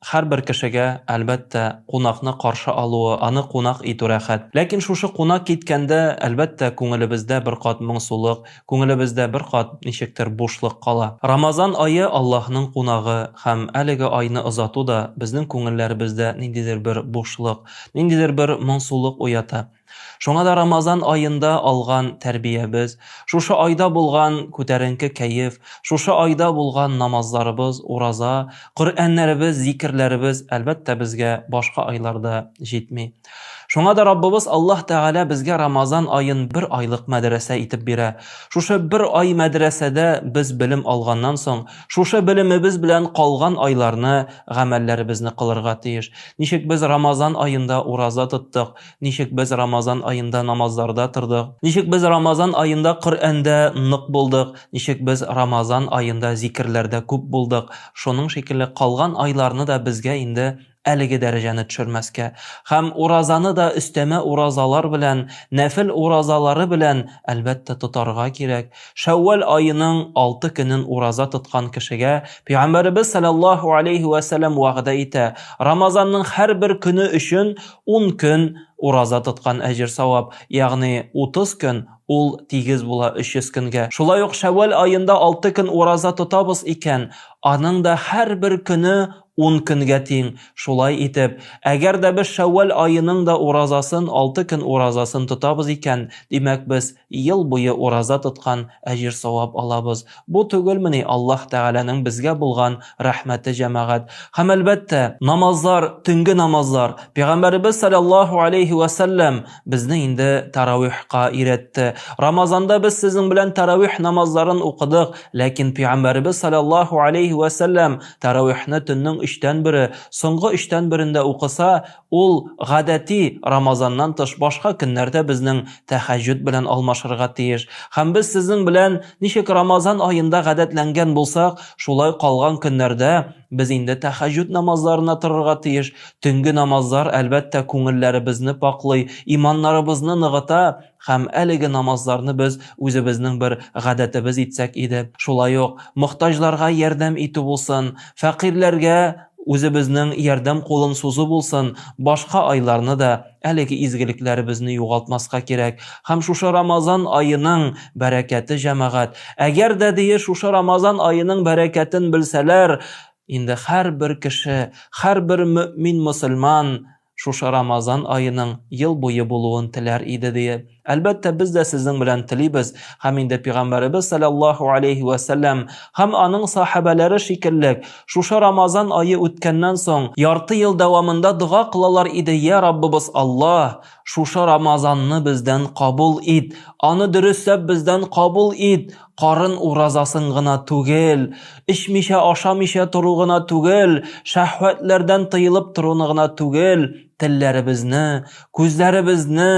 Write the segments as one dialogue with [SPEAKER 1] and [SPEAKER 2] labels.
[SPEAKER 1] Һәрбер кешегә, әлбәттә, кунакны каршы алуы, аны кунак итү рәхәт. Ләкин шушы кунак киткәндә, әлбәттә, күңелебездә бер кат моңсулык, күңелебездә бер кат ничектер бушлык кала. Рамазан ае, Аллаһның кунагы, һәм әлеге айны озату да безнең күңелләребездә ниндидер бер бушлык, ниндидер бер моңсулык уята. Шуңа да Рамазан аенда алган тәрбиябез, шушы айда булган күтәренке кәеф, шушы айда булган намазларыбыз, ураза, Коръәннәребез, зикерләребез, әлбәттә, безгә башка айларда җитми. Шуңа да Раббыбыз Аллаһ Тәгалә безгә Рамазан аен бер айлык мәдрәсә итеп бирә. Шушы бер ай мәдрәсәдә без белем алганнан соң, шушы белемебез белән калган айларны гамәлләребезне кылырга тиеш. Ничек без Рамазан аенда ураза тоттык, Ничек без Рамазан аенда намазларда тордык? Ничек без Рамазан аенда Коръәндә нык булдык? Ничек без Рамазан аенда зикерләрдә күп булдык? Шуның шикелле калган айларны да безгә инде әлеге дәрәҗәне төшермәскә һәм уразаны да өстәмә уразалар белән, нәфел уразалары белән, әлбәттә, тотарга кирәк. Шәүвәл аеның алты көнен ураза тоткан кешегә Пәйгамбәребез салләллаһу алейһи вә сәлләм вәгъдә итә, Рамазанның һәрбер көне өчен Ун көн ураза тоткан әҗер-савап, ягъни утыз көн, ул тигез була өч йөз көнгә. Шулай ук шәввәл аенда алты көн ураза тотабыз икән, аның да һәрбер көне ун көнгә тиң. Шулай итеп, әгәр дә без шәввәл аеның да уразасын, алты көн уразасын тотабыз икән, димәк, без. Ел буе ураза тоткан, әҗер-савап алабыз. Бу түгелмени Аллаһ Тәгаләнең безгә булган рәхмәте, җәмәгать? Һәм, әлбәттә, намазлар, төнге намазлар. Пәйгамбәребез салләллаһу алейһи вә сәлләм безне инде тәравихка өйрәтте. Рамазанда без сезнең белән тәравих намазларын укыдык, ләкин Пәйгамбәребез салләллаһу алейһи вә сәлләм тәравихны төннең өчтән бере, соңгы өчтән берендә укыса, Ул гадәти Рамазаннан тыш башка көннәрдә безнең Тәһәҗҗүд белән алмашырга тиеш. Һәм без сезнең белән, ничек Рамазан аенда гадәтләнгән булсак, шулай калган көннәрдә без инде Тәһәҗҗүд намазларына торырга тиеш. Төнге намазлар, әлбәттә, күңелләребезне пакълый, иманнарыбызны ныгыта. Һәм әлеге намазларны без үзебезнең бер гадәтебез итсәк иде. Шулай ук, мохтаҗларга ярдәм итү булсын, фәкыйрьләргә үзебезнең ярдәм кулын сузу булсын, башка айларны да әлеге изгелекләребезне югалтмаска кирәк. Һәм шушы Рамазан аеның бәрәкәте, җәмәгать! Әгәр дә ди шушы Рамазан аеның бәрәкәтен белсәләр, инде һәрбер кеше, һәрбер мөэмин мөселман, Шушы Рамазан аеның ел буе булуын теләр иде, дие. Әлбәттә, без дә сезнең белән телибез, һәм инде Пигамбәребез салләллаһу алейһи вә сәлләм һәм аның сахабәләре шикеллек, шушы Рамазан ае үткәннән соң, ярты ел дәвамында дога кылалар иде, Йә Раббыбыз Аллаһ, шушы Рамазанны бездән кабул ит, аны дөресләп бездән кабул ит, Карын уразасын гына түгел, эчмичә-ашамыйча тору гына түгел, шәһвәтләрдән тыелып торуны гына түгел, телләребезне, күзләребезне,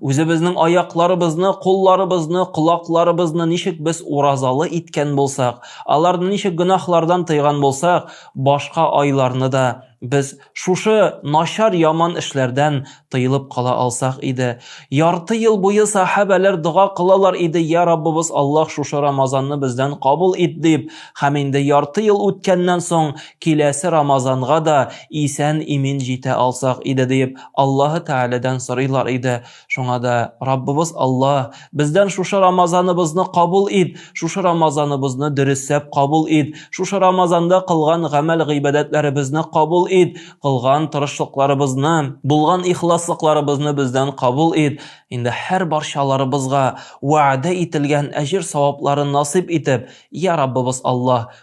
[SPEAKER 1] үзебезнең аякларыбызны, кулларыбызны, колакларыбызны ничек без уразалы иткән булсак, аларны ничек гөнаһлардан тыйган булсак, башка айларны да без Шушы начар яман эшләрдән тыелып кала алсак иде. Ярты ел буе сахабәләр дога кылалар иде, я Раббыбыз Аллаһ шушы Рамазанны бездән кабул ит дип, һәм инде ярты ел үткәннән соң киләсе Рамазанга да исән-имин җитә алсак иде диеп Аллаһы Тәгаләдән сорыйлар иде. Шуңа да Раббыбыз Алла, бездән шушы Рамазаныбызны кабул ит, шушы Рамазаныбызны дөресәп кабул ит, шушы Рамазанда кылган гамәл гыйбадәтләребезне кабул ит, кылган тырышлыкларыбызны, булган ихласлыкларыбызны бездән кабул ит. Инде һәр барчаларыбызга вәгъдә ителгән әҗер савапларын насыйп итеп, я Раббыбыз Алла,